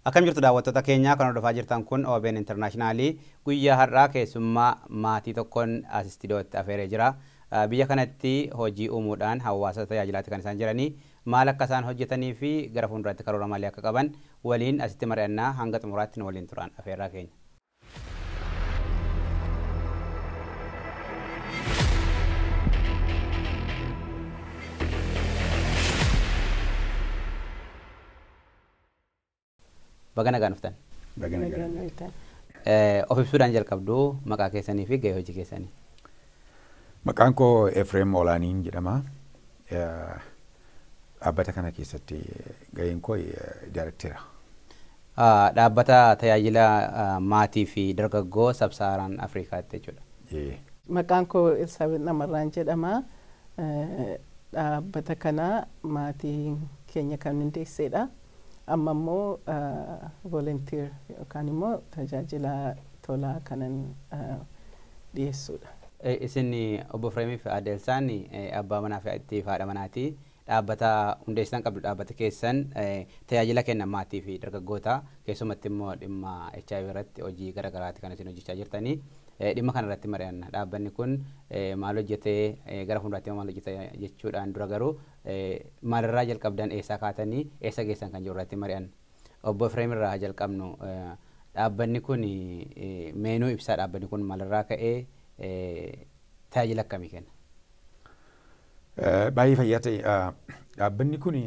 Akkam jirtu daawwattoota keenyaa kan hordofaa jirtan kun OBN Intarnaashinaalii guyyaa har'aa keessummaa maatii tokkoon as istiidiyootti afeeree jira. Biyya kanatti hojii uumuudhaan hawaasa tajaajilaatti kan isaan jiranii Maal akka isaan hojjetanii fi gara fuulduraatti karoora maalii akka qaban waliin asitti mari'anna. Hanga xumuraatti nu waliin turaan afeerraa keenya. Baga nagaan dhuftan. Baga nagaan dhuftan. Of ibsuudhaan jalqabdu maqaa keessanii fi gahee hojii keessanii. Maqaan koo Efreem Olaaniin jedhama. Dhaabbata kana keessatti gaheen koo daayrektera. Dhaabbata tajaajila maatii fi dargaggoo sabsaaraan Afrikaatti jechuudha. Maqaan koo Elsaabeet Namarraan jedhama. Dhaabbata kana maatii keenya kan hundeesseedha. Amma immoo volunteer yookaan immoo tajaajila tolaa kanan dhiyeessuudha. Isin Obbo Fireemii fi Aadde Elsaan abbaa manaa fi itti haadha manaati. Dhaabbata hundeessitan qabdu. Dhaabbati keessan tajaajila kenna maatii fi dargaggoota keessumatti immoo dhimma hiv irratti hojii gara garaati kan isin hojjechaa jirtani. Dhimma kana irratti mari'anna. Dhaabbanni kun maal hojjetee gara fuulduraatti immoo maal hojjeta jechuudhaan dura garuu Maalirraa jalqabdan eessaa kaatanii eessa geessan kan jiru irratti mari'anna. Obbo Efreem irraa haa jalqabnu. Dhaabbanni kun mee nuu ibsaa dhaabbanni kun maalirraa ka'ee tajaajila akkamii kenna? Baay'ee fayyaa ta'e. Dhaabbanni kun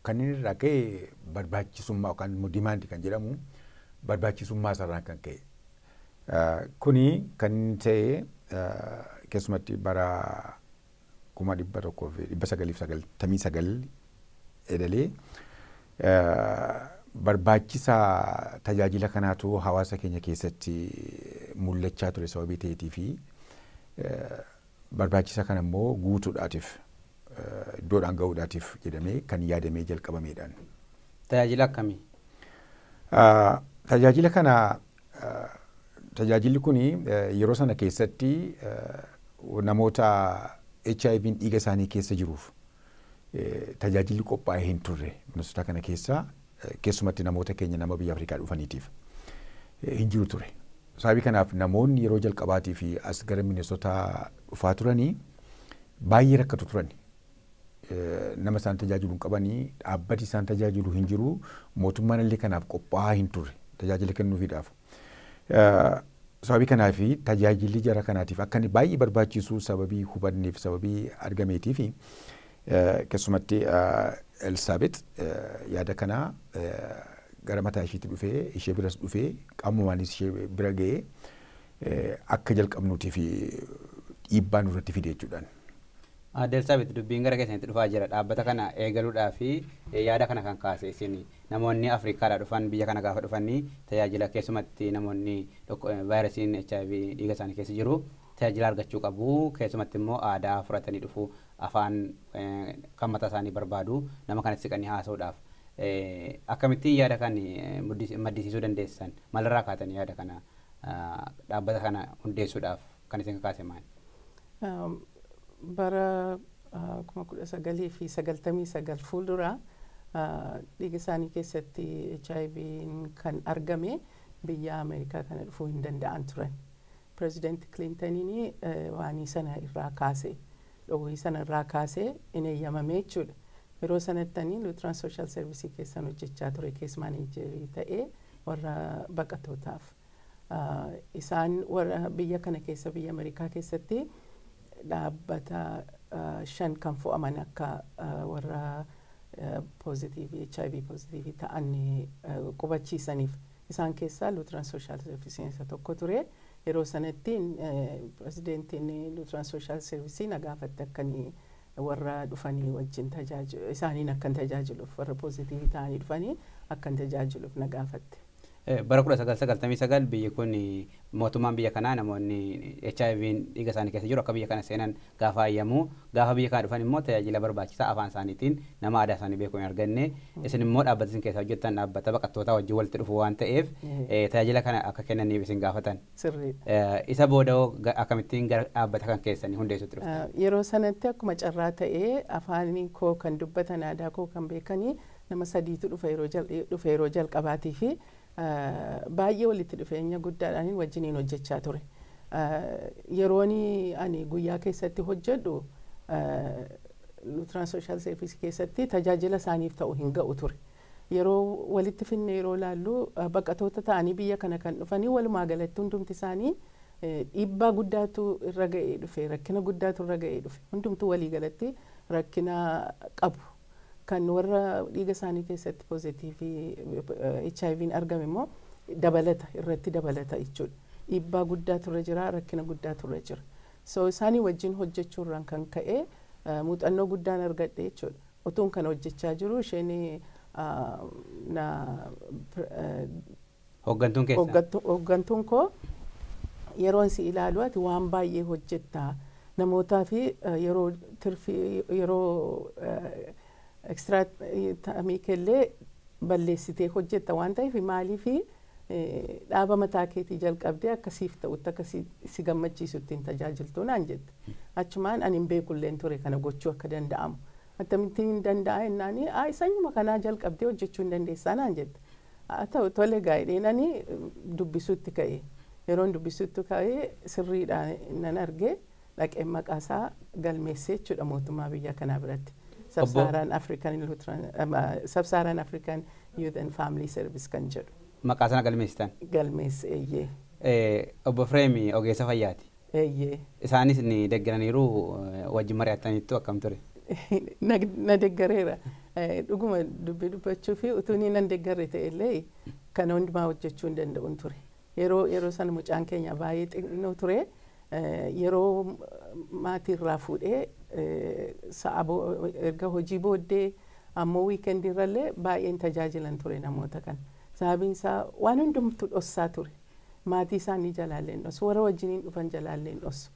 kan inni irraa ka'e barbaachisummaa yookaan immoo demand kan jedhamu barbaachisummaa isaarraan kan ka'e. Kuni kan inni ta'e keessumatti bara 1999 eedalee barbaachisa tajaajila kanaatu hawaasa keenya keessatti mul'achaa ture sababii ta'eetii fi barbaachisa kana immoo guutuudhaatiif iddoodhaan ga'uudhaatiif jedhamee kan yaadamee jalqabameedhaan. Tajaajila akkamii? Tajaajila kana Tajaajilli kun yeroo sana keessatti namoota HIVn dhiiga isaanii keessa jiruuf tajaajilli qophaa'ee hin turre Minnesota kana keessa keessumatti namoota keenya nama biyya Afrikaa dhufaniitiif hin jiru ture. Sababii kanaaf namoonni yeroo jalqabaatii fi as gara Minnesota dhufaa turanii baay'ee rakkatu turan. nama isaan tajaajilu hin qabani, dhaabbati isaan tajaajilu hin jiru, mootummaan illee kanaaf qophaa'aa hin turre tajaajila kennuufiidhaaf. Sababii kanaaf tajaajilli jara kanaatiif akka inni baay'ee barbaachisu sababii hubanneef sababii argameetiif keessumatti Elsaabex yaada kana gara mataa isheetti dhufee ishee biras dhufee qaamumaanis ishee bira ga'ee akka jalqabnuutiif dhiibbaa nurratti fide jechuudhaan. Aadde Elsaabet, Dubbiin gara keessanitti dhufaa jira. Dhaabbata kana eegaluudhaaf yaada kana kan kaase isin. Namoonni Afrikaadhaa dhufan biyya kana gaafa dhufan tajaajila keessumatti namoonni vaayirasiin hiv dhiiga isaanii keessa jiru tajaajila argachuu qabu. Keessumatti immoo aadaa fudhatanii dhufu. Afaan kan mataa isaanii barbaadu. Nama kanatti siqanii haasa'uudhaaf. Akkamittiin yaada kan maddisiisuu dandeessan? Maalirraa kaatanii yaada kana dhaabbata kana hundeessuudhaaf kan isin kakaase maali? Bara 1999 fuuldura dhiiga isaanii keessatti HIV'n kan argame biyya Ameerikaa kana dhufuu hin danda'an turan. Pirezidaanti Kiliintaniin waanii sana irraa kaase, dhoowwii sana irraa kaase hin eeyyamame jechuudha. Yeroo sanatti ani Luutiraan Sooshaal Servisii keessan hojjechaa ture kees maaneejerii ta'ee warra baqatootaaf. Isaan warra biyya kana keessa biyya Amerikaa keessatti dhaabbata shan kan fo'aman akka warra poozitiivii HIV poozitiivii ta'an qubachiisaniif. Isaan keessaa Lutheran Social Service isa tokko ture. Yeroo sanatti pirezidentiin Lutheran Social Service na gaafatte akka warra dhufanii wajjin tajaajilu isaaniin akkan tajaajiluuf warra poozitiivii ta'anii dhufanii akkan tajaajiluuf na gaafatte. Bara 1999 biyyi kun mootummaan biyya kanaa namoonni HIV'n dhiiga isaanii keessa jiru akka biyya kana seenan gaafa hayyamu gaafa biyya kana dhufan immoo tajaajila barbaachisaa afaan isaaniitiin nama aadaa isaanii beeku hin arganne isin immoo dhaabbata isin keessa hojjettan dhaabbata baqattootaa wajjin walitti dhufu waan ta'eef eh, tajaajila kana akka kennaniif isin gaafatan. Sirriidha. Eh, Isa booda hoo ga- akkamittiin gara dhaabbata kan keessanii hundeessuutti dhuftan? Ah, Yeroo sanatti akkuma carraa ta'ee afaanii koo kan dubbatan aadaa koo kan beekanii Nama sadiitu dhufe yeroo jalqabaatiif baay'ee walitti dhufeenya guddaadhaan wajjiniin hojjechaa ture. Yeroon ani guyyaa keessatti hojjedhu Luutiraan Sooshaal Seerviisii keessatti tajaajila isaaniif ta'u hin ga'u ture. Yeroo walitti finnee yeroo ilaallu baqatoota ta'anii biyya kana kan dhufanii walumaa galatti hundumti isaanii dhiibbaa guddaatu irra ga'ee dhufe, rakkina guddaatu irra ga'ee dhufe. Hundumtuu walii galatti rakkina qabu. Kan warra dhiiga isaanii keessatti poozitiivii HIV'n argame immoo dabalata irratti dabalata jechuudha. Dhiibbaa guddaatu irra jira, rakkina guddaatu irra jira. So isaanii wajjin hojjechuu irraan kan ka'e muuxannoo guddaan argadhe jechuudha. Utuun kana hojjechaa jiruu isheen na Hooggantuun keessan. Hooggattu, hooggantuun koo yeroon si ilaalu ati waan baay'ee hojjetta. Namootaa fi eh, yeroo tirfi yeroo ekstiraa ta'amii keellee balleessitee hojjetta waan ta'eef maaliif dhaaba mataa keetii jalqabdee akka siif ta'utti akka si, si gammachiisutti hin tajaajiltu naan jette. Achumaan ani hin beekulleen ture kana gochuu akka danda'amu. Akkamittiin hin danda'a jennaani, "Ayi, sanyuma kanaa jalqabdee hojjechuu hin dandeessaa naan jette. Haa ta'u tole egaa jedheen ani dubbisuutti ka'e. Yeroon dubbisuutti ka'e sirriidha nan arge dhaqeen maqaa isaa galmeessee jechuudha mootummaa biyya kanaa biratti. Sabsaaraan African Lutheran Sabsaaraan African Youth and Family Service kan jedhu. Maqaa sana galmeessitan? Galmeesse eeyyee. Obbo Efreem ogeessa fayyaati. Eeyyee. Isaanis ni deggeraniiru wajjin mari'attaniittu akkam ture? Na, na deggereera. Eh, Dhuguma dubbii dubbachuu fi utuu inni nan deggerre ta'e illee kana hundumaa hojjechuu hin danda'un ture. Yeroo, yeroo sana mucaan keenya baay'ee xinnoo ture. Eh, Yeroo maatii irraa fuudhee eh, sa'a bo- erga hojii booddee ammoo wiikendii irrallee baay'een tajaajilan ture namoota kana. Sababiin isaa waan hundumtu dhossaa ture. maatii isaanii jalaallee hin dhossu. Warra wajjiniin dhufan jalaallee hin dhossu.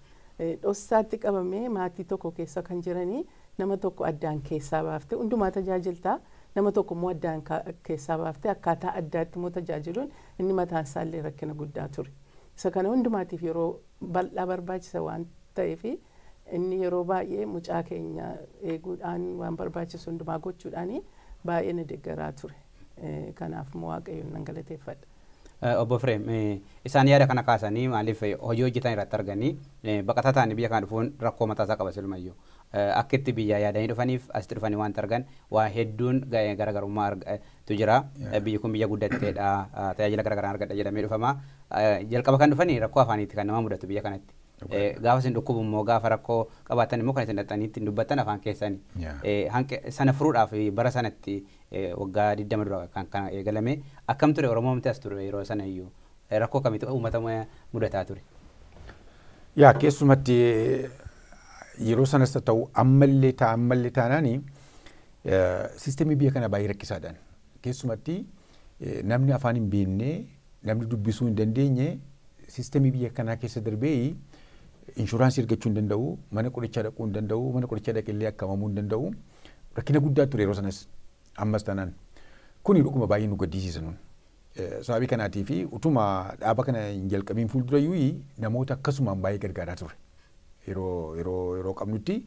Dhossaatti qabamee maatii tokko keessa kan jiranii nama tokko addaan keessaa baaftee hundumaa tajaajilta. Nama tokko immoo addaan keessaa baaftee akkaataa addaatti immoo tajaajiluun inni mataan isaa illee rakkina guddaa ture. Isa kana hundumaatiif yeroo bal'aa barbaachisa waan ta'eef inni yeroo baay'ee mucaa keenya eeguudhaan waan barbaachisu hundumaa gochuudhaan baay'ee na deggaraa ture. Kanaaf Waaqayyoon nan galateeffadha. Obbo Efreem, isaan yaada kana kaasanii maaliif hojii hojjetan irratti arganii baqataa ta'anii biyya kana dhufuun rakkoo mataa isaa qaba silumayyuu. Akka itti biyyaa yaadanii dhufaniif asitti dhufanii waanti argan waa hedduun garaagarummaa tu jira. Biyyi kun biyya guddatteedha, tajaajila garaagaraan argadha jedhamee dhufama. Jalqaba kan dhufanii rakkoo afaaniiti kan nama mudatu biyya kanatti. Gaafa isin dhukkubu immoo gaafa rakkoo qabaattan immoo kan isin dhaqxanii ittiin dubbattan afaan keessani. Sana furuudhaaf bara sanatti Waggaa 20 dura kan kana eegalame. Akkam ture Oromoomti as ture yeroo sana iyyuu? Rakkoo kamitu uummata mudataa ture? Yaa keessumatti yeroo sanas haa ta'u ammallee ta'a ammallee taanaani siistemii biyya kana baay'ee rakkisaadhaan keessumatti namni afaan hin beekne namni dubbisuu hin dandeenye siistemii biyya kanaa keessa darbee inshuraansii argachuu hin danda'u mana qorichaa dhaquu hin danda'u mana qorichaa dhaqillee akkamamuu hin danda'u Rakkina guddaa ture yeroo sanas ammas tanaan kuni dhuguma baay'ee nu gaddisiisa nun. Sababii kanaatii fi utuma dhaaba kana hin jalqabiin fuuldura iyyuu namoota akkasumaan baay'ee gargaaraa turre. Yeroo yeroo yeroo qabnutti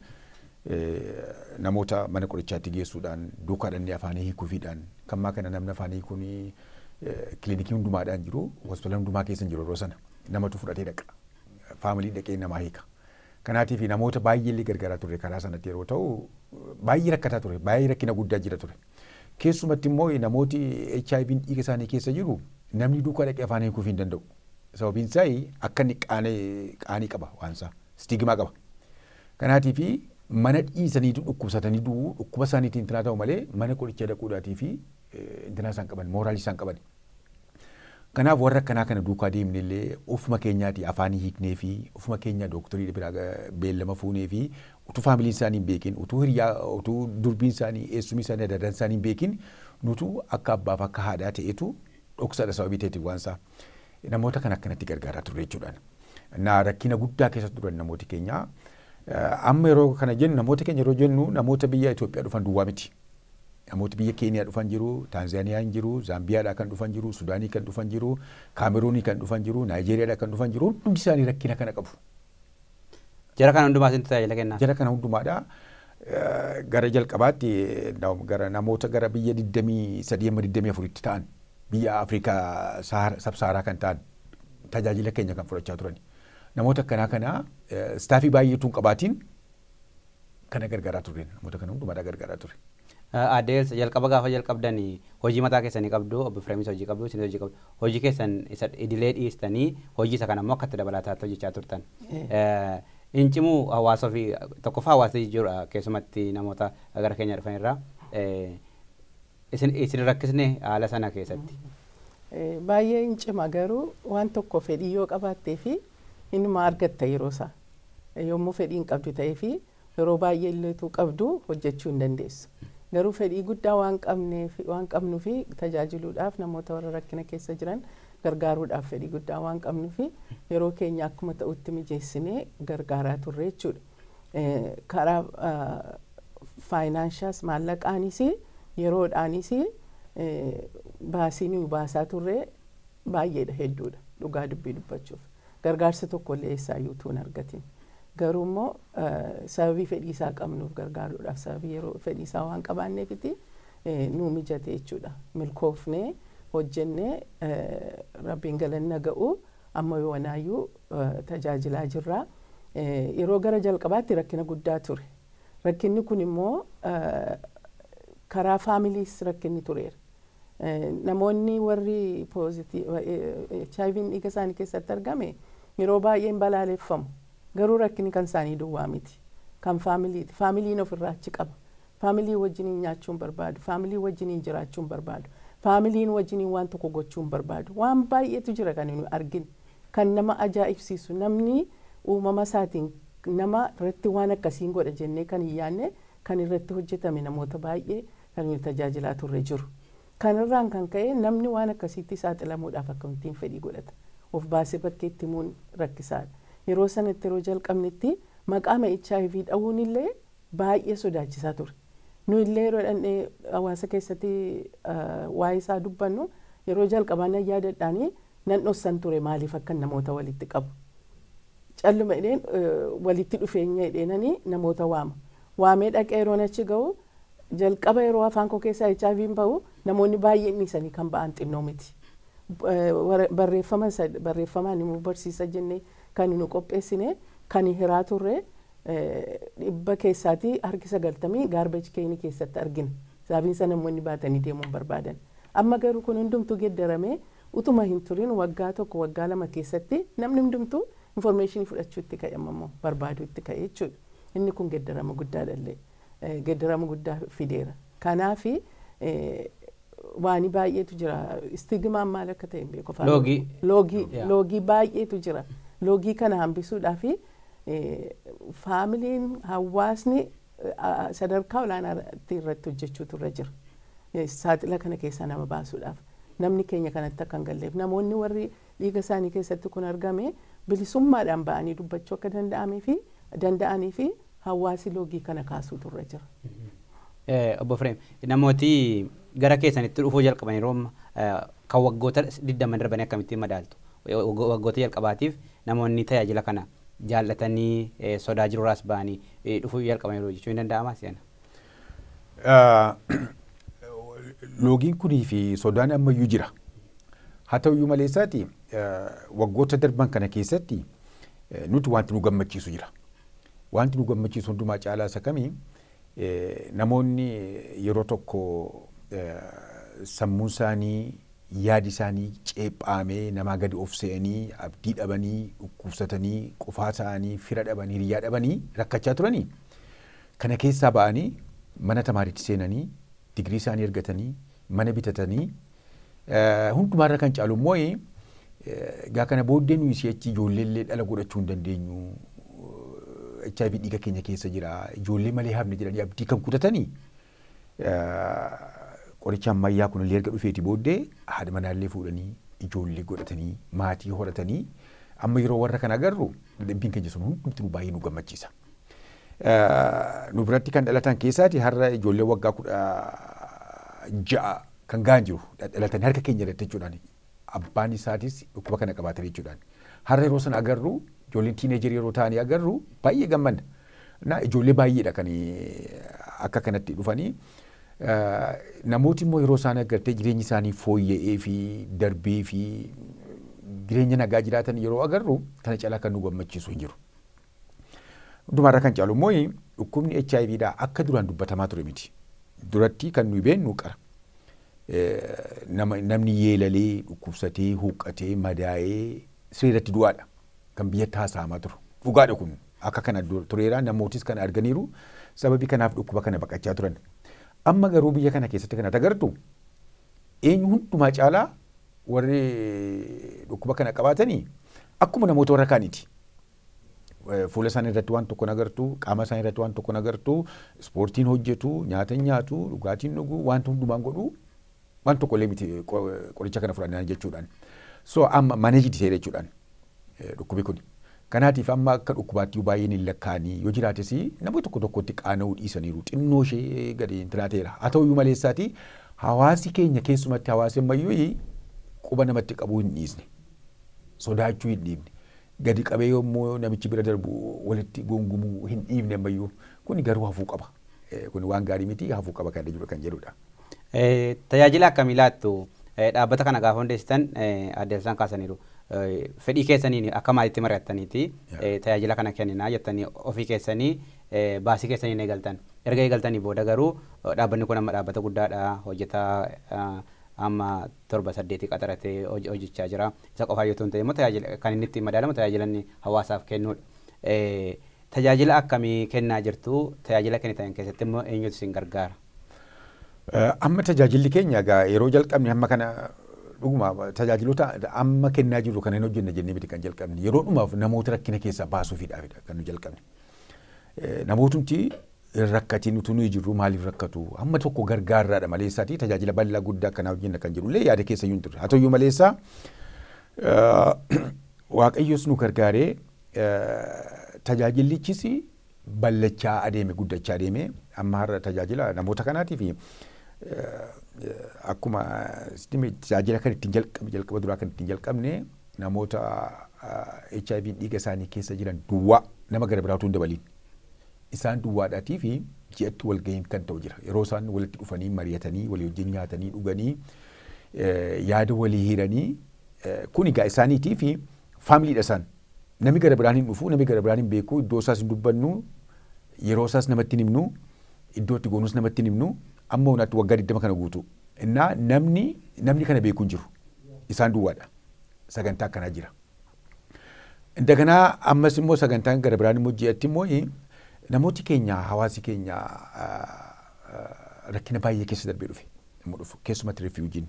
namoota mana qorichaatti geessuudhaan duukaa dhannee afaanii hiikuufiidhaan kan maa kana namni afaanii kun kilinikii hundumaadhaan jiru hospitaala hundumaa keessa hin jiru yeroo sana namatu fudhatee dhaqa faamilii dhaqee namaa hiika. Kanaatiif namoota baay'ee illee gargaaraa turre karaa sanatti yeroo ta'u baay'ee rakkataa ture baay'ee rakkina guddaa jira ture. Keessumatti immoo namooti HIV'n dhiiga isaanii keessa jiru namni duukaa dhaqee afaan hiikuuf hin danda'u. Sababiin isaa akka inni qaanii qaba waan isaa stigimaa qaba. Kanaatiif mana dhiisanii dhukkubsatanii du'u dhukkuba isaaniitiin intinaa ta'u malee mana qorichaa dhaquudhaatii fi intinaa isaan qaban mooraalii isaan qaban. Kanaaf warra akkanaa kana duukaa deemne illee ofuma keenyaati afaanii hiiknee fi ofuma keenya dooktorii biraa beellama fuunee fi utuu faamiliin isaanii hin beekin utuu hiriyaa utuu durbiin isaanii eessumii isaanii adda addaan isaanii hin beekin nutu akka abbaaf akka haadhaa ta'etu dhoksaadha sababii ta'eeti waan isaa namoota kan akkanatti gargaaraa turre jechuudhaan. Na rakkina guddaa keessa turan namooti keenya. Amma yeroo kana jennu namoota keenya yeroo jennu namoota biyya Itoophiyaa dhufan duwwaa miti. Namooti biyya Keeniyaa dhufan jiru, Taanzaaniyaa hin jiru, Zaambiyaadhaa kan dhufan jiru, Sudaanii kan dhufan jiru, Kaameruunii kan dhufan jiru, Naayijeeriyaadhaa kan dhufan jiru hundumti isaanii rakkina kana qabu. Jara kana hundumaa isintu tajaajila kennaaf. Jara kana hundumaadha. Gara jalqabaatti gara namoota gara biyya 23 amma 24tti ta'an biyya Afrikaa sabsaaraa kan ta'an tajaajila keenya kan fudhachaa turani. Namoota akkanaa kana istaafii baay'eetu hin qabaatiin kana gargaaraa turre. Namoota kana hundumaa irraa gargaaraa ture. Aadde Eelsa, jalqaba gaafa jalqabdani hojii mataa keessanii qabdu, Obbo Efreemis hojii qabu, isinis hojii qabdu. Hojii keessan isa idilee dhiistanii hojii isa kana immoo akka itti dabalaataatti hojjechaa turtan. Hin cimu hawaasa ofii tokkoffaa hawaasni jijjiirudha keessumatti namoota gara keenya dhufan irraa. Isin isin hin rakkisne haala sana keessatti? Baay'ee in cima garuu waan tokko fedhii yoo qabaattee fi inuma argatta yeroo isaa. Yommuu fedhii hin qabdu ta'ee fi yeroo baay'ee illee utuu qabduu hojjechuu hin dandeessu. Garuu fedhii guddaa waan qabneef waan qabnuufi tajaajiluudhaaf namoota warra rakkina keessa jiran gargaaruudhaaf fedhii guddaa waan qabnuufi yeroo keenya akkuma ta'utti mijeessinee gargaaraa turre jechuudha. karaa faayinaanshaas maallaqaanis yeroodhaanis baasii nuyi baasaa turre baay'eedha hedduudha dhugaa dubbii dubbachuuf gargaarsa tokko illee eessaayyuu utuu hin argatin garuu immoo sababii fedhiisaa qabnuuf gargaaruudhaaf sababii yeroo fedhiisaa waan qabaanneefiti nuu mijate jechuudha milkoofnee hojjennee rabbiin galanna ga'u amma yoonaayyuu tajaajilaa jirraa. yeroo gara jalqabaatti rakkina guddaa ture. Rakkinni kun immoo karaa faamiliis rakkinni tureera. Namoonni warri HIV'n dhiiga isaanii keessatti argame yeroo baay'ee hin balaaleffamu. Garuu rakkinni kan isaanii duwwaa miti. Kan faamiliiti. Faamiliin ofirraa achi qaba. Family wajjiniin nyaachuun barbaadu, family wajjiniin jiraachuun barbaadu, familiin wajjiniin waan tokko gochuun barbaadu. Waan baay'eetu jira kan nuyi arginu. Kan nama ajaa'ibsiisu namni uumama isaatiin nama irratti waan akkasiin godha jennee kan hin yaadne kan irratti hojjetame namoota baay'ee kan nuyi tajaajilaa turre jiru. Kanarraan kan ka'e namni waan akkasiitti saaxilamuudhaaf akkamittiin fedhii godhata? Of baasee bakkeetti himuun rakkisaadha. Yeroo sanatti yeroo jalqabnetti maqaama hiv dha'uun illee Baay'ee sodaachisaa ture. Nuyi illee yeroo dhaqnee hawaasa keessatti waa'ee isaa dubbannu yeroo jalqabaa nan yaadadhaanii nan dhossan ture maaliif akkan namoota walitti qabu. Calluma jedheen walitti dhufeenya jedheenanii namoota waama. Waamee dhaqee yeroon achi ga'u jalqaba yeroo afaan koo keessaa HIV'n ba'u namoonni baay'een dhiisanii kan ba'an xinnoo miti. Barreeffama barreeffamaan immoo barsiisa jennee Kani nu qopheessine kani hiraa turre dhibba keessaati harki sagaltamii garbage keeni keessatti argina. Sababiinsa namoonni baatanii deemuu hin barbaadan. Amma garuu kun hundumtuu geddaramee utuma hin turin waggaa tokko waggaa lama keessatti namni hundumtuu information fudhachuu itti ka'e amma immoo barbaaduu itti ka'e jechuudha. Inni kun geddarama guddaadha illee. geddarama guddaa fideera. Kanaaf waani baay'eetu jira. Istigimaan maal akka ta'e hin beeku afaan Loogii. Oromoo. Loogii Yeah. loogii baay'eetu jira. Loogii kana hambisuudhaaf faamiliin hawaasni eh, sadarkaa olaanaatti irratti hojjechuutu irra jira. Eh, Saaxila kana keessaa nama baasuudhaaf namni keenya kanatti akka hin galleef namoonni warri dhiiga isaanii keessatti kun argame bilisummaadhaan ba'anii dubbachuu akka danda'amee fi danda'anii fi hawaasi loogii kana kaasuutu irra jira. Eh, Obbo Fireem, namooti gara keessanitti dhufuu jalqaban yeroo amma, eh, kan waggoota 20 darbanii akkamittiin madaaltu? Eh, waggo- Waggoota jalqabaatiif namoonni tajaajila kana jaallatanii eh, sodaa jirurraas ba'anii eh, dhufuu jalqaban yeroo jechuun ni danda'ama seenaa. Loogiin kunii fi sodaan ammayyuu jira. Haa ta'uyyuu malee isaati waggoota darban kana keessatti nuti wanti nu gammachiisu jira. Wanti nu gammachiisu hundumaa caalaa isa kami namoonni yeroo tokko sammuun isaanii yaadi isaanii ceephaamee namaa gadi of se'anii abdii dhabanii dhukkubsatanii qofaa ta'anii fira dhabanii hiriyyaa dhabanii rakkachaa turanii Kana keessaa ba'anii mana tamaariitti seenanii, digirii isaanii argatanii, mana bitatanii, hundumaarra kan caalu immoo egaa kana booddee nuyi si'achi ijoollee illee dhala godhachuu hin dandeenyu, HIV dhiiga keenya keessa jira, ijoollee malee hafne jedhanii abdii kan kutatanii Qorichi ammayyaa kunillee erga dhufeeti booddee haadha manaallee fuudhanii ijoollee godhatanii maatii horatanii amma yeroo warra kana agarru dadhabbiin keenya sun hundumti nu baay'ee nu gammachiisa. Nu biratti kan dhalatan keessaati har'a ijoollee waggaa kudha ja'a kan ga'an jiru dhalatanii harka keenya irratti jechuudhaan abbaan isaatis dhukkuba kana qabaatan jechuudhaan. Har'a yeroo sana agarru ijoolleen tiineejarii yeroo ta'anii agarru baay'ee gammanna. Na ijoollee baay'eedha kan akka kanatti dhufanii. Namooti immoo yeroo isaan agartee jireenyi isaanii fooyya'ee fi darbee fi jireenya nagaa jiraatan yeroo agarru kana caalaa kan nu gammachiisu hin jiru. Hundumaarra kan caalu immoo dhukkubni HIV dha akka duraan dubbatamaa ture miti. Duratti kan nuyi beennu qara. Nama namni yeelalee, dhukkubsatee, huqqatee, madaa'ee sireerratti du'aadha kan biyyatti haasa'amaa turu. Dhugaadha kun akka kana dur tureera namootis kana arganiiru sababii kanaaf dhukkuba kana baqachaa turan. Amma garuu biyya kana keessatti kan ati agartu eenyu hundumaa caalaa warri dhukkuba kana qabaatanii akkuma namoota warra kaaniiti. Fuula isaanii irratti waan tokko hin agartu, qaama isaanii irratti waan tokko hin agartu, ispoortiin hojjetu, nyaata hin nyaatu, dhugaatiin dhugu, wanta hundumaan godhu waan tokko illee miti qoricha kana fudhannaan jechuudhaan. So amma managed ta'eera jechuudhaan dhukkubi kun. Kanaatiif amma akka dhukkubaatti baay'een hin lakkaa'anii yoo jiraates namoota tokko tokkotti qaana'uu dhiisaniiru xinnoo ishee gadi hin tiraateera. Haa ta'uyyuu malee isaati hawaasi keenya keessumatti hawaasi ammayyuu quba namatti qabuu hin dhiisne. Sodaachuu hin dhiifne. Gadi qabee yommuu namichi bira darbu walitti gungumuu hin dhiifne ammayyuu. Kuni garuu hafuu qaba. Kuni waan gaarii miti hafuu qaba kan jedhu kan jedhudha. Tajaajila akkamii laattu? Dhaabbata kana gaafa hundeessitan Aadde Elsaan kaasaniiru. Fedhii keessaniin akka maatiitti mari'attaniiti tajaajila kana kenninaa jettanii ofii keessanii baasii keessaniin eegaltan. Erga eegaltanii booda garuu dhaabbanni kun amma dhaabbata guddaadha hojjetaa amma torba saddeeti qaxaratee hojjechaa jira. Isa qofaayyuu otoo hin ta'in immoo tajaajila kan inni ittiin madaalamu tajaajila inni hawaasaaf kennuudha. Tajaajila akkamii kennaa jirtu? Tajaajila kennitan keessatti immoo eenyutu isin gargaara? Amma tajaajilli keenya egaa yeroo jalqabne hamma kana dhuguma tajaajiloota amma kennaa jirru kana hin hojjenna jennee miti kan jalqabne. Yeroo dhumaaf namoota rakkina keessaa baasuufiidhaafidha kan nu jalqabne. Namootumti hin rakkatiin utuu nuyi jirruu maaliif rakkatu? Hamma tokko gargaarraadha maleessaatii tajaajila bal'aa guddaa akkanaa hojjenna kan jedhullee yaada keessa iyyuu hin turre. Haa ta'uyyuu maleessaa Waaqayyos nu gargaaree tajaajillichis ballachaa adeeme guddachaa adeeme amma har'a tajaajila namoota kanaatiif akkuma tajaajila kan ittiin jalqabe jalqaba duraa kan ittiin jalqabne namoota HIV dhiiga isaanii keessa jiran duwwaa nama gara biraa utuu hin dabaliin Isaan duwwaadhaatii fi ji'atti walgahiin kan ta'u jira. Yeroo isaan walitti dhufanii mari'atanii walii wajjin nyaatanii dhuganii yaada walii hiranii kun egaa isaaniitii fi faamiliidha isaan. Nami gara biraan hin dhufu, nami gara biraan hin beeku, iddoo isaas hin dubbannu, yeroo isaas namatti hin himnu, iddoo itti goonus namatti hin himnu, amma unaatti waggaa 20 kana guutuu. Innaa namni namni kana beeku hin jiru. Isaan duwwaadha. Sagantaa akkanaa jira. Daganaa ammas immoo sagantaan gara biraan immoo ji'atti immoo namooti keenya hawaasi keenya rakkina baay'ee keessa darbee dhufe. Immoo dhufu keessumatti rifiwujiin.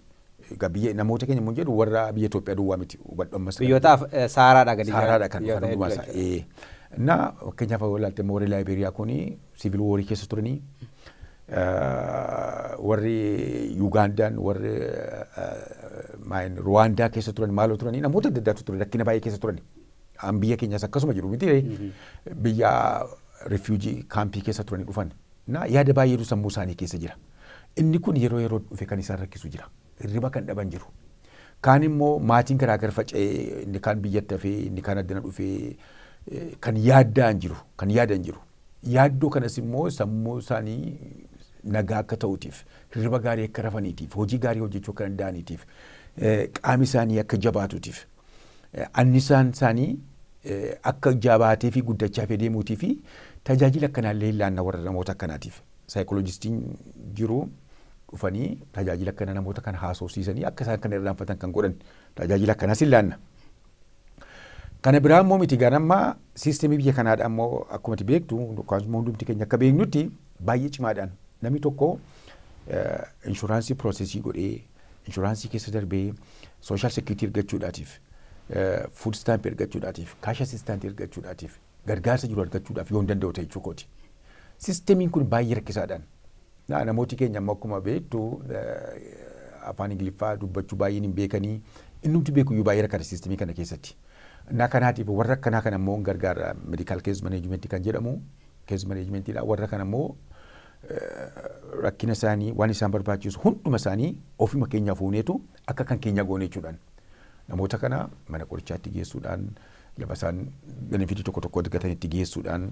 Egaa biyya namoota keenya immoo jedhu warra biyya Itoophiyaa duwwaa miti hubadhu ammas. Biyyoota saaraadha gadi Saaraadha kan dhufan hundumaa isaa. Innaa fakkeenyaaf yoo ilaalte immoo warri Laayibeeriyaa kuni Civil War keessa turanii warri Yugaandaan warri Ruwaandaa keessa turan maaloo turanii namoota adda addaatu ture rakkina baay'ee keessa turani. An biyya keenyas akkasuma jedhu miti biyya refuujii kaampii keessa turanii dhufan. Na yaada baay'eetu sammuu isaanii keessa jira. Inni kun yeroo yeroo dhufe kan isaan rakkisu jira. Hirriba kan dhaban jiru. Kaan immoo maatiin garaa gara faca'ee inni kaan biyyatti hafee inni kaan addana dhufee kan yaaddaan jiru kan yaadan jiru. Yaaddoo kanas immoo sammuu isaanii nagaa akka ta'uutiif, hirriba gaarii akka rafaniitiif, hojii gaarii hojjechuu akka danda'aniitiif, qaami isaanii akka jabaatuutiif, annisaan isaanii akka jabaatee fi guddachaa fi deemuutii fi tajaajila akkanaallee hin laanna warra namoota akkanaatiif. Saayikooloojistiin jiru dhufanii tajaajila akkana namoota kana haasofsiisanii akka isaan kana irraanfatan kan godhan tajaajila akkanaas hin laanna. Kana biraa immoo miti egaa amma siistemii biyya kanaadha immoo akkuma ati beektu yookaan immoo hundumti keenya akka beeknutti baay'ee cimaadhaan namni tokko inshuraansii piroosesii godhee inshuraansii keessa darbee sooshaal seekiriitii ergachuudhaatiif fuud istaampi ergachuudhaatiif kaasha asistaantii ergachuudhaatiif gargaarsa jiru argachuudhaaf yoon danda'u ta'e jechuu kooti. Sistemiin kun baay'ee rakkisaadhaan. Na- Namooti keenya amma akkuma beektu eh, afaan Ingiliffaa dubbachuu baay'een hin beekanii innumti beekuyyuu baay'ee rakkata sistemii kana keessatti. Na kanaatiif warra akkanaa kana immoo hin gargaara medical case management kan jedhamu case management dha warra kana immoo rakkina isaanii waan isaan barbaachisu hunduma isaanii ofuma keenyaa fuuneetu akka kan keenya goone jechuudhaan namoota kana mana qorichaatti geessuudhaan Lafa isaan benefitii tokko tokko argatanitti geessuudhaan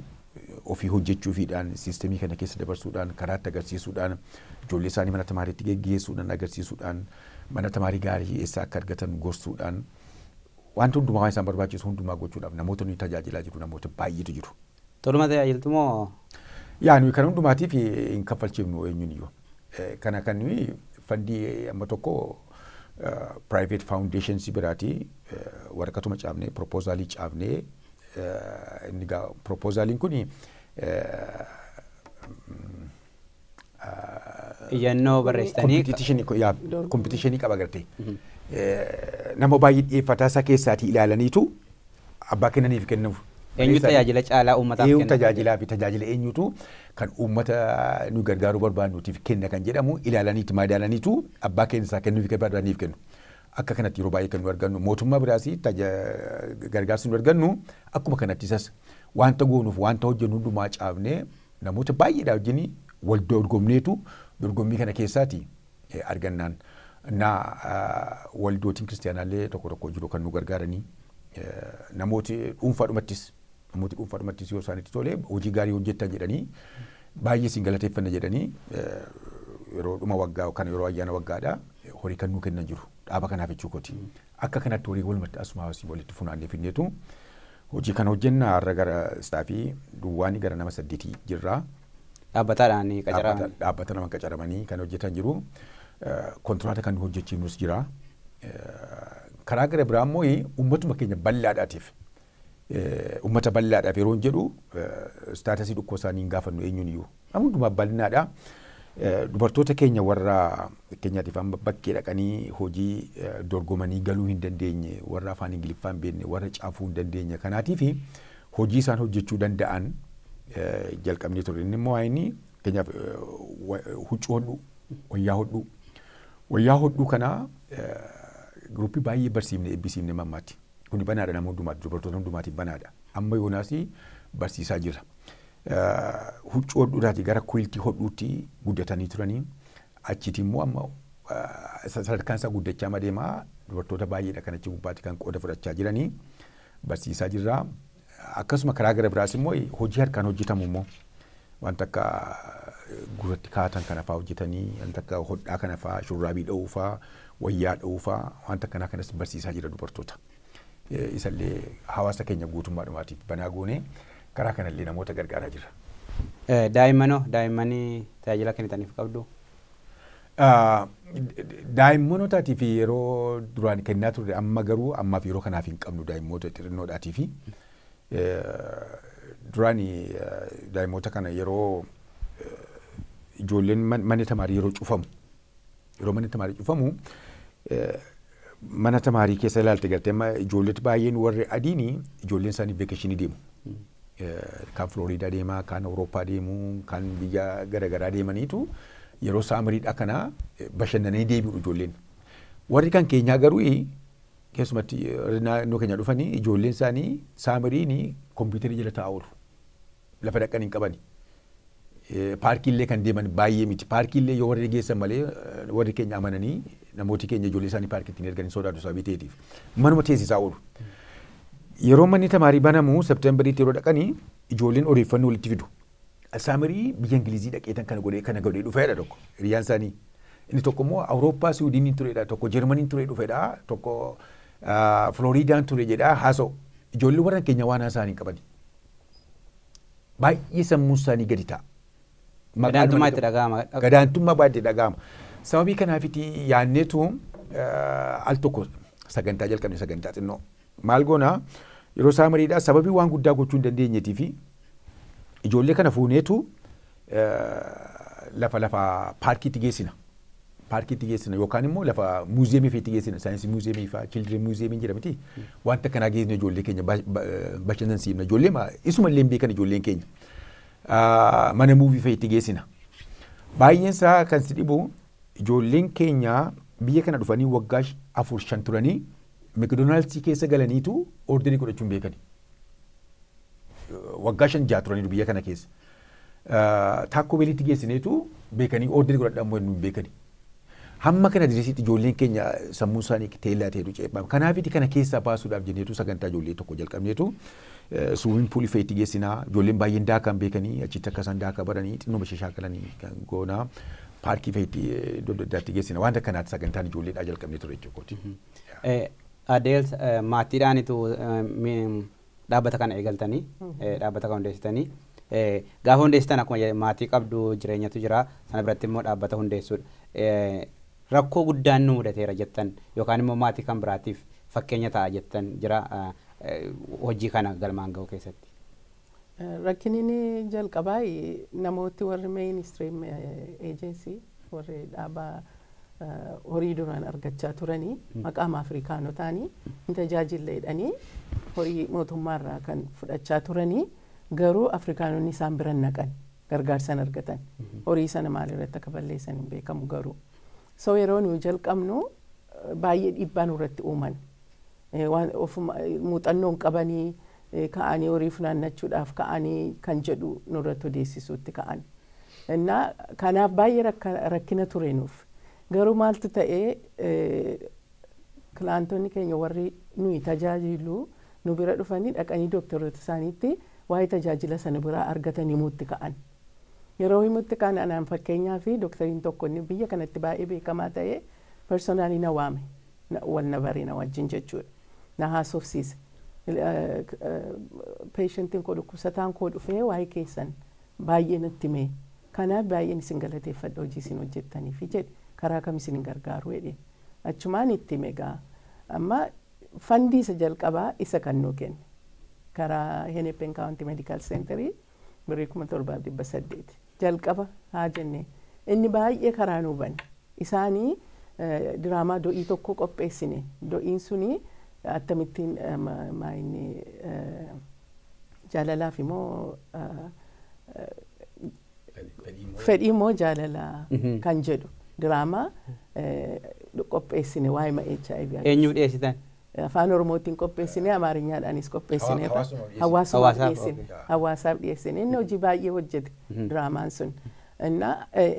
ofii hojjechuufiidhaan siistemii kana keessa dabarsuudhaan karaatti agarsiisuudhaan ijoollee isaanii mana tamaariitti geggeessuudhaan agarsiisuudhaan mana tamaarii gaarii eessaa akka argatan gorsuudhaan wanti hundumaa waan isaan barbaachisu hundumaa gochuudhaaf namoota nuyi tajaajilaa jiru namoota baay'eetu jiru. Toluma ta'e ayiltu moo? Yaa nuyi kan hundumaatiif hin kaffalchiifnu eenyuun iyyuu. Eh, Kana kan nuyi fandii amma tokko private foundations biraati eh, waraqatuma caafnee proposaalii caafnee eh, inni gaa proposaaliin kun Iyyannoo barreessitanii Kompitiishinii ko- yaa, kompitiishinii qaba gartee. Eh, Nama baay'ee dhiyeeffataa isaa keessaatii ilaalaniitu abbaa kennaniif kennuuf. eenyu tajaajila caalaa uummataaf Eenyu kenna? tajaajilaa fi tajaajila eenyutu kan uummata nu gargaaruu barbaadnuutiif kenna kan jedhamu ilaalaniitu madaalaniitu abbaa keenya isaa kennuuf kan barbaadaniif kennu. Akka kanatti yeroo baay'ee kan nu argannu mootummaa biraas taja- gargaarsa nu argannu akkuma kanatti isas wanta goonuuf wanta hojjennu hundumaa caafnee Namoota baay'eedhaa wajjin wal dorgomneetu dorgommii kana keessaati argannaan na waldootiin kiristiyaanaallee tokko tokko jiru kan nu gargaaranii namooti dhuunfaadhumattis namooti dhuunfaadhumattis yoo isaanitti tole hojii gaarii hojjettan jedhanii baay'ee isin galateeffanna jedhanii yeroo dhuma waggaa yookaan yeroo ayyaana waggaadhaa horii kan nuu kennan jiru dhaaba kanaaf jechuu kooti. Akka kanatti walii walumatti asumaa asii walitti funaannee fidneetu hojii kana hojjenna. Har'a gara istaafii duwwaanii gara nama saddeetii jirra. Dhaabbataadhaan qacaraman. Dhaabbata nama qacaramanii kan hojjetan jiru. Kontiraata kan hojjechiifnus jira. Karaa gara biraa immoo uummatuma keenya bal'aadhaatiif Uummata bal'aadhaaf yeroon jedhu staatasii dhukkoo isaanii hin gaafannu eenyuun iyyuu. Nama hundumaaf bal'inaadha. Dubartoota keenya warra fakkeenyaatiif amma bakkee dhaqanii hojii dorgomanii galuu hin dandeenye, warra afaan Ingiliffaa hin beekne, warra cafuu hin dandeenye kanaatiif hojii isaan hojjechuu danda'an jalqabnee turre. Inni immoo waa'een fakkeenyaaf huccuu hodhuu, wayyaa hodhuu. Wayyaa hodhuu kana giruuppii baay'ee barsiifne eebbisiifne mammaatti. Kuni banaadha nama hundumaatiif, dubartoota hundumaatiif banaadha. Amma yoonaas barsiisaa jira. Huccuu hodhuudhaati gara kuiltii hodhuutti guddatanii turanii achiiti immoo amma sadarkaan isaa guddachaa madeemaa dubartoota baay'eedha kan achi gubbaatti kan qooda fudhachaa jiranii barsiisaa jirraa. Akkasuma karaa gara biraas immoo hojii harkaan hojjetamu immoo wanta akka gurratti kaa'atan kana fa'aa hojjetanii wanta akka hodhaa kana fa'aa shurraabii dha'uu fa'aa wayyaa dha'uu fa'aa wanta akkanaa kanas barsiisaa jira dubartoota. Eh, Isallee hawaasa keenya guutummaadhumaatiif banaa goonee karaa kanallee namoota gargaaraa jira. Eh, Daa'immanoo daa'immanii tajaajila kennitaniif qabdu. Daa'immanootaatiif yeroo duraan kennaa turre amma garuu ammaaf yeroo kanaaf hin qabnu daa'immoota xixinnoodhaatiif. Duraan daa'immoota kana yeroo ijoolleen manni tamaarii yeroo cufamu yeroo manni tamaarii cufamu Mana tamaarii keessa ilaalte galtee amma ijoolleet baay'een warri adiini ijoolleen isaanii veekeshinii deemu. Eh, Kaan Filooriidaa deema, kaan Awurooppaa deemu, kaan biyya garaagaraa deemaniitu yeroo saamiriidhaa kana eh, bashannananii deebi'u ijoolleen. Warri kan keenyaa garuu eh, keessumatti eh, warri naannoo keenya dhufanii ijoolleen isaanii saamiriini kompiitarii jala taa'aa oolu. lafa dhaqan hin qabani. Paarkii illee kan deeman baay'ee miti. Paarkii illee yoo warri geessan malee warri keenya amananii namooti keenya ijoollee isaanii paarkiitti hin ergan hin sodaatu sababii ta'eetiif. Manuma teessisaa oolu. Yeroo manni tamaarii banamu Septeembariitti yeroo dhaqanii ijoolleen odeeffannoo walitti fidu. Saamirii biyya Ingilizii dhaqeetan kana godhee kana godhee dhufeedha tokko hiriyaan isaanii. Inni tokko immoo Awurooppaa Siwiidiniin tureedha tokko Jarmaniin turee dhufeedha tokko Filooriidaan ture jedha haasa'u. Ijoollee warra keenya waan haasa'an hin qabani. baay'ee sammuun isaanii gadi ta'a. Gadaantummaa itti dhaga'ama. Gadaantummaa baay'ee itti dhaga'ama. Sababii kanaafiti yaanneetu al tokko sagantaa jalqabne sagantaa xinnoo. Maal goona yeroo isaa mariidhaa sababii waan guddaa gochuu hin dandeenyeetii fi ijoollee kana fuuneetu lafa lafa paarkiitti geessina. paarkiitti geessina yookaan immoo lafa muuziyeemii fiitti geessina saayinsii muuziyeemii faa children muuziyeemiin jira miti wanta akkanaa geessina ijoollee keenya ba- ba- bashannansiifna ijoollee ma- isuma illee hin beekan ijoolleen keenya Ah, mana muuvii fa'itti geessina baay'een isaa kan si dhibu ijoolleen keenya biyya kana dhufanii waggaa sh- afur shan turanii mekdonaaldsii keessa galaniitu orderii godhachuu hin beekani waggaa shan jaha turaniiru biyya kana keessa Taakkoo beeliitti geessineetu beekanii oorderii godhadha ammoo hin beekani. Hamma kana dirisiitti ijoolleen keenya sammuun isaanii teellaa ta'etu ceephaama. Kanaafiti kana keessaa baasuudhaaf jenneetu sagantaa ijoollee tokko jalqabneetu suumiin puulii fa'iitti geessinaa ijoolleen baay'een daakaa hin beekanii achitti akka isaan daakaa baranii xinnoo ishee shaakalanii kan goonaa paarkii fa'iitti iddoo adda addaatti geessina waan akkanaatti sagantaan ijoolleedhaa jalqabnee ture jechuudha. Adeels maatiidhaanitu dhaabbata kana eegaltanii dhaabbata kana hundeessitanii gaafa hundeessitan akkuma jedhe maatii qabdu jireenyatu jira sana biratti immoo dhaabbata hundeessuudha. Rakkoo guddaan nu mudateera jettan yookaan immoo maatii kan biraatiif fakkeenya ta'a jettan jira hojii kana galmaan ga'uu keessatti. Rakkinni jalqabaa namooti warri mainstream agency warri dhaabaa horii duraan argachaa turanii maqaama Afrikaanotaanii hin tajaajille jedhanii horii mootummaarraa kan fudhachaa turanii garuu Afrikaanonni isaan bira hin naqan gargaarsa hin argatan. Horii sana maalirratti akka balleessan hin beekamu garuu. So yeroo nuyi jalqabnu eh, baay'ee dhiibbaa nurratti uuman. Eh, Waan ofuma eh, muuxannoo hin qabanii eh, ka'anii horii funaannachuudhaaf ka'anii kan jedhu nurratti odeessisuutti ka'an. Innaa kanaaf baay'ee rakkina ture nuuf. Garuu maaltu ta'e kilaantonni keenya warri nuyi tajaajilu nu bira dhufanii dhaqanii dooktaroota isaaniitti waa'ee tajaajila sana biraa argatan himuutti ka'an. Yeroo himutti ka'an anaan fakkeenyaaf dooktariin tokko inni biyya kanatti baay'ee beekamaa ta'e personally na waame. Wal na bare na wajjin jechuudha. Na haasofsiise. Patientiin koo dhukkubsataan koo dhufee waa'ee keessan Baay'ee natti hime. Kanaaf baay'een isin galateeffadha hojii isin hojjettaniifi jedhe. Karaa kam isinin gargaaru jedheen. Achumaan itti hime egaa. Amma fandii isa jalqabaa isa kan nuu kenne. Karaa Hennepin County Medical Center birrii 7,800. Jalqaba haa jennee. Inni baay'ee karaa nuu bane. Isaani diraamaa do'ii tokko qopheessine. Do'iin suni attamittiin maayinni. Jaalalaafi moo ah, fedhii moo jaalala kan jedhu diraamaa eh, qopheessine waa'ee ma HIV and Eenyuu dhiyeessitan? afaan oromootiin qopheessine amaarinyaanis qopheessine Hawa- hawaasuma dhiyeessine. hawaasumaaf Hawaasaaf, dhiyeessine okay. hawaasaaf dhiyeessine inni hojii baay'ee hojjete diraamaan sun እና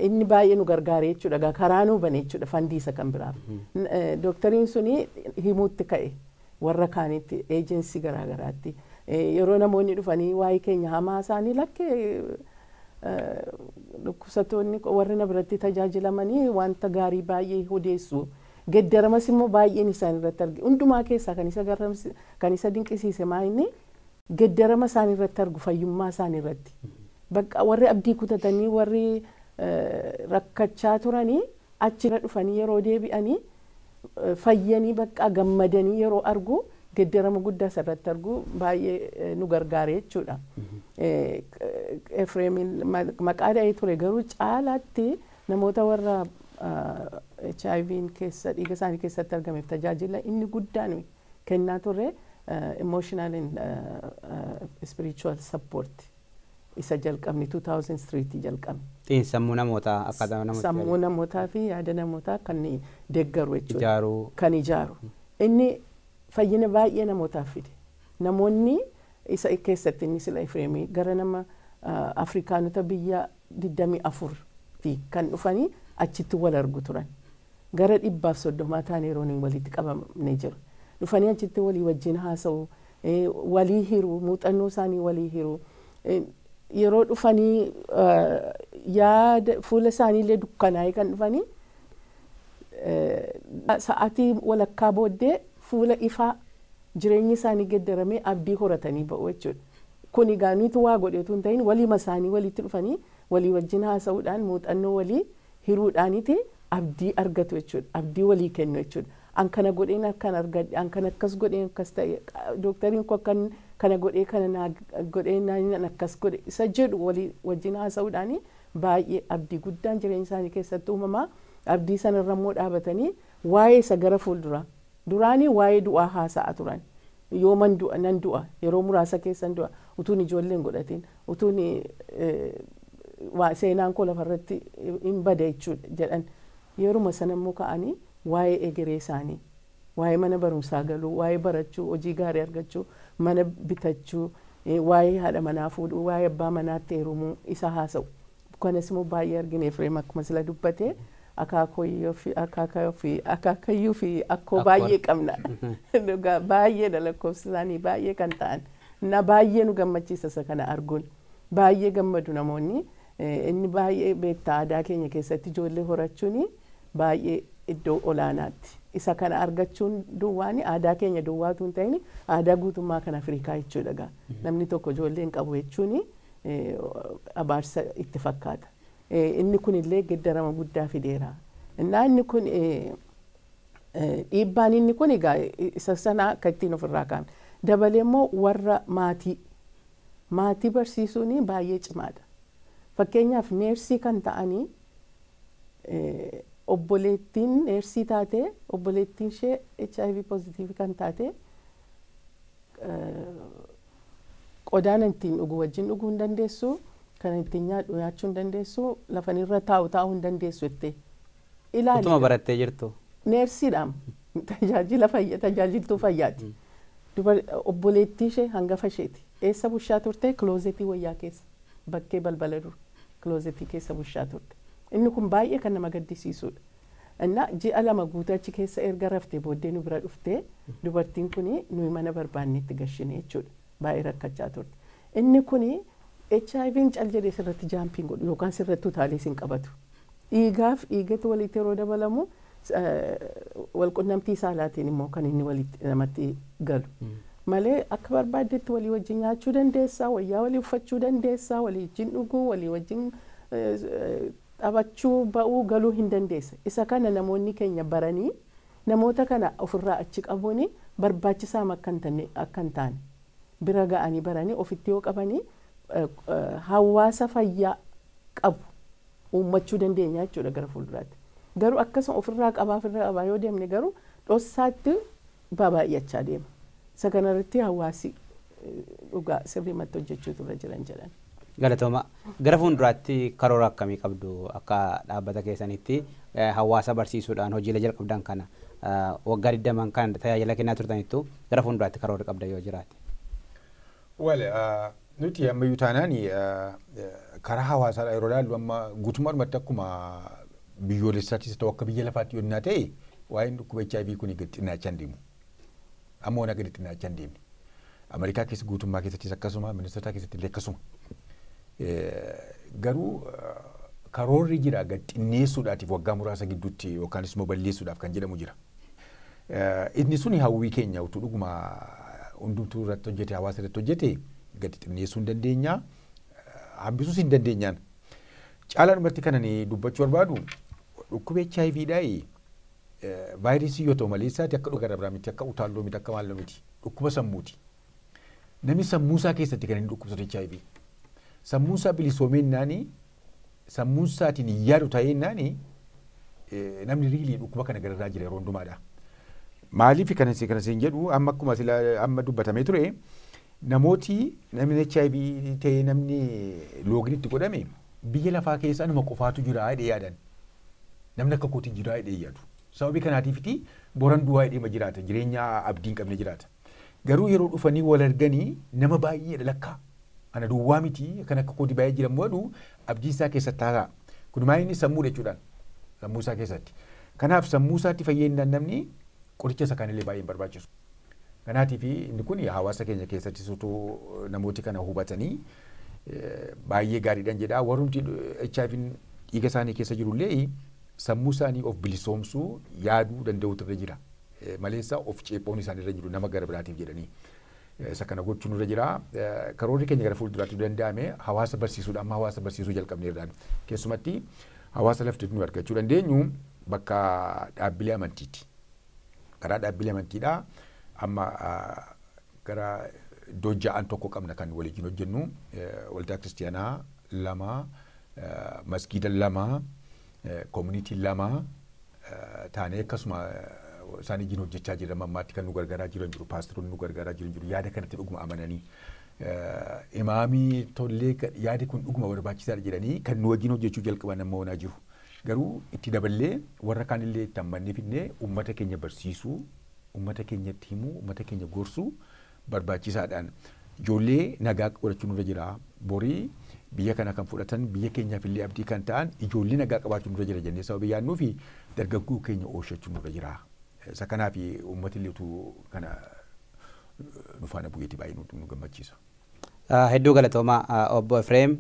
inni baay'ee nu gargaare jechuudha egaa karaa nu bane jechuudha fandiisa kan biraaf N- eh, dooktoriin suni himuutti ka'e warra kaanitti, agency garaa garaatti yeroo namoonni dhufanii waa'ee keenya hamaa isaanii lakki dhukkubsattoonni warri na biratti tajaajilamanii wanta gaarii baay'ee odeessu. Geddaramas immoo baay'een isaan irratti arge. Hundumaa keessaa kan isa dinqisiise maa inni geddarama isaan irratti argu fayyummaa isaan irratti. Bakka warri abdii kutatanii warri rakkachaa turanii achira dhufanii yeroo deebi'anii fayyanii bakka gammadanii yeroo argu geddarama guddaa isa irratti argu baay'ee nu gargaare jechuudha. Efreemiin maqaa dha'ee ture garuu caalaatti namoota warra HIV'n keessa dhiiga isaanii keessatti argameef tajaajila inni guddaan kennaa turre emotional and spiritual support isa jalqabne 2003 tti jalqabne. Xiinsammuu namootaa akkaataa namootti fayyadamu. Sammuu namootaa fi yaada namootaa kan deeggaru jechuudha. Ijaaru. Kan ijaaru. Inni fayyina baay'ee namootaaf fide. Namoonni isa keessatti inni sila Efreemii gara nama Afrikaanota biyya 24 fi kan dhufanii achitti wal argu turan. Gara dhibbaaf soddomaa taanee Rooniin waliitti qabamne jirra. Dhufanii achitti walii wajjin haasa'u, walii hiru, muuxannoo isaanii walii hiru. Yeroo dhufanii yaada fuula isaanii illee dukkanaa'ee kan dhufanii sa'atii walakkaa booddee fuula ifaa jireenyi isaanii geddaramee abdii horatanii ba'u jechuudha. Kuni egaa nutu waa godhe utuu hin ta'iin waliima isaanii waliitti dhufanii walii wajjin haasa'uudhaan muuxannoo walii hiruudhaaniti abdii argatu jechuudha. Abdii walii kennu jechuudha. An kana godheen akkan argadhe, an kana akkas godheen akkas ta'e, dooktariin koo akkan kana godhee kana naa godhe jennaan an akkas godhe isa jedhu walii wajjin haasa'uudhaani baay'ee abdii guddaan jireenya isaanii keessatti uumama. Abdii sanarra immoo dhaabatanii waa'ee isa gara fuulduraa Duraanii waa'ee du'aa haasa'a turan. Yooman du'a, nan du'a, yeroo muraasa keessan du'a, utuun ijoollee hin godhatin, utuun seenaan koo lafa irratti in bada jechuudha jedhan. Yeruma sana immoo ka'anii waa'ee egeree isaanii, waa'ee mana barumsaa galuu, waa'ee barachuu, hojii gaarii argachuu, mana bitachuu, waa'ee haadha manaa fuudhuu, waa'ee abbaa manaatti heerumuu isaa haasa'u. Kanasimo baay'ee argine Efreem akkuma sila dubbate akaakooyyoo fi akaakayoo fi akaakayyuu fi akkoo Akkoo. baay'ee qabna. Dhugaa baay'eedha lakkoofsi isaanii baay'ee kan ta'an. Na baay'ee nu gammachiisa isa kana arguun. Baay'ee gammadu namoonni. Eh, Inni baay'ee beektaa aadaa keenya keessatti ijoollee horachuun baay'ee iddoo olaanaatti. Isa kana argachuun duwwaan aadaa keenya duwwaa utuu hin ta'in aadaa guutummaa kan Afrikaa jechuudha gaa. Namni tokko ijoollee hin qabu jechuun abaarsa itti fakkaata. Inni kun illee geddarama guddaa fideera. Innaa inni kun dhiibbaan inni kun egaa isa sanaa akka ittiin ofirraa kaanu. Dabalee immoo warra maatii maatii barsiisuun baay'ee cimaadha. Fakkeenyaaf neersii kan ta'anii obboleettiin neersii taatee obboleettiin ishee HIV pozitiivii kan taatee Qodaa ani ittiin dhugu wajjin dhuguu hin dandeessu, kan ani ittiin nyaadhu nyaachuu hin dandeessu, lafa ani irra taa'u taa'uu hin dandeessu jette. Ilaali Utuma gaa. barattee jirtu. Neersiidhaam. Tajaajila fayya, tajaajiltuu fayyaati. Dubar obboleettii ishee hangafa isheeti. Eessa bushaa turte? Kiloozetii wayyaa keessa. Bakkee balbala dura. Kiloozetii keessa bushaa turte. Inni kun baay'ee kan nama gaddisiisuudha. Innaa ji'a lama guutuu achi keessa erga raftee booddee nu bira dhufte. Dubartiin kuni nuyi mana barbaannee itti gashine jechuudha. Baay'ee rakkachaa turte. Inni kuni HIVn cal jedhee sirratti jaampii hin godhu yookaan sirratti utaalee si hin qabatu. Dhiigaaf dhiigatu walitti yeroo dabalamu wal qunnamtii saalaatiin immoo kan inni walitti namatti galu. Malee akka barbaaddetti walii wajjin nyaachuu dandeessa, wayyaa walii uffachuu dandeessa, walii wajjin dhuguu, walii wajjin Taphachuu ba'uu galuu hin dandeessa. Isa kana namoonni keenya baranii namoota kana of irraa achi qabuun barbaachisaam akka hin tanne akka hin taane bira ga'anii baranii ofitti yoo qabanii hawaasa fayyaa qabu uummachuu dandeenya jechuudha gara fuulduraatti. Garuu akkasuma of irraa qabaa of irraa qabaa yoo deemne garuu dhossaatti baabaayyachaa deema. Isa kana irratti hawaasi dhugaa sirriimatti hojjechuutu irra jiran jedhan. Galatooma. Gara fuunduraatti karoora akkamii qabdu akka dhaabbata keessanitti hawaasa barsiisuudhaan hojiilee jalqabdan kana waggaa 20 kan tajaajila kennaa turtanittu gara fuunduraatti karoorri qabdan yoo jiraate? Well, nuti ammayyuu taanaan karaa hawaasaadhaa yeroo ilaallu amma guutummaadhumatti akkuma biyyoolessaattis ta'u akka biyya lafaatti yoo innaa ta'e waa'een dhukkuba HIV kun gad xinnaachaa hin deemu. Amma wanaa gadi xinnaachaa hin deemne. Ameerikaa keessa guutummaa keessattis akkasuma ministootaa keessatti illee akkasuma. Garuu karoorri jira gad xinneessuudhaatiif waggaa muraasa gidduutti yookaanis immoo balleessuudhaaf kan jedhamu jira. Inni suni hawwii keenya utuu dhuguma hundumtuu irratti hojjete hawaasa irratti hojjete gadi xinneessuu hin dandeenya hambisuus hin dandeenyaan. Caalaa dhumatti kanan dubbachuu barbaadu dhukkuba HIV dhaayi vaayirasii yoo ta'u malee isaati akka dhukkuba irraa miti akka utaalloo miti akka maalloo miti dhukkuba sammuuti. Namni sammuu isaa keessatti kan inni dhukkubsatu HIV. Sammuu isaa bilisoomeennaani sammuunsaatiin hin yaadu ta'ee innaan namni riilii dhukkuba kana gararraa jira yeroo hundumaadha. Maaliif kana si- kana siin jedhu amma akkuma sila amma dubbatamee ture namooti namni HIV ta'ee namni loogin itti godhame biyya lafaa keessa anuma qofaatu jira jedhee yaadan. Namni akka kootii jira jedhee yaadu. Sababii kanaatiifiti boran du'aa jedhee ma jiraata jireenya abdiin qabne jiraata. Garuu yeroo dhufanii wal arganii nama baay'eedha lakkaa. Ana duwwaa miti kan akka kooti baay'ee jira jedhu abdii isaa keessatti haasa'a. Kun maal inni sammuudha jechuudhaan sammuu isaa keessatti. Kanaaf sammuu isaatti fayyadinaan namni qoricha isa kaanillee baay'ee hin barbaachisu. Kanaatiif inni kun hawaasa keenya keessatti sutuu namooti kana hubatanii baay'ee gaariidhaan jedha. Warrumti HIV dhiiga isaanii keessa jirullee sammuu isaanii of bilisoomsuu yaaduu danda'uutu irra jira. maleessa of ceephoon isaan irra jiru nama gara biraatiif jedhanii isa kana gochuun irra jira. Karoorri keenya gara fuulduraatti danda'ame hawaasa barsiisuudha. Amma hawaasa barsiisuu jalqabneerraan keessumatti hawaasa lafti nu argachuu dandeenyu bakka dhaabbilee amantiiti. Karaa dhaabbilee amantiidha. Amma gara iddoo ja'an tokko qabna kan waliin hojjennu waldaa kiristiyaanaa lama masgiida lama Community lama taanee akkasuma isaan ijjiin hojjechaa jirra mammaatti kan nu gargaaraa jiran jiru paasteroonni nu gargaaraa jiran jiru yaada kanatti dhuguma amananii imaamii tollee yaadi kun dhuguma barbaachisaadha jedhanii kan nu wajjin hojjechuu jalqaban amma oonaa jiru garuu itti daballee warra kaanillee itti ammannee fidnee uummata keenya barsiisuu uummata keenyatti himuu uummata keenya gorsuu barbaachisaadhaan ijoollee nagaa godhachuun nurra jira. Borii biyya kana kan fudhatan biyya keenyaaf illee abdii kan ta'an ijoollee nagaa qabaachuun nurra jira jennee sababii yaadnuu fi dargaggoo keenya oolshachuun nurra jira. Isa kanaaf uummati illee utuu kana nu faana bu'eeti baay'ee nu gammachiisa. Hedduu galatoomaa Obbo Efreem.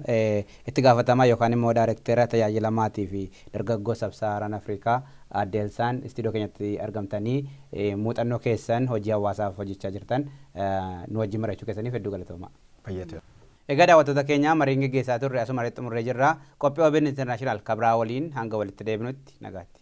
Itti gaafatamaa yookaan immoo Daarekteera Tajaajila Maatii fi Dargaggoo Sab-Sahaaraan Afrikaa Aadde Elsaan istiidiyoo keenyatti argamtanii muuxannoo keessan hojii hawaasaaf hojjechaa jirtan nu wajjin mari'achuu keessaniif hedduu galatoomaa. Fayyaa ta'aa. Egaa daawwattoota keenya mariin geggeessaa turre asuma irratti xumurree jirra. Qophii obn International ka biraa waliin hanga walitti deebinutti nagaatti.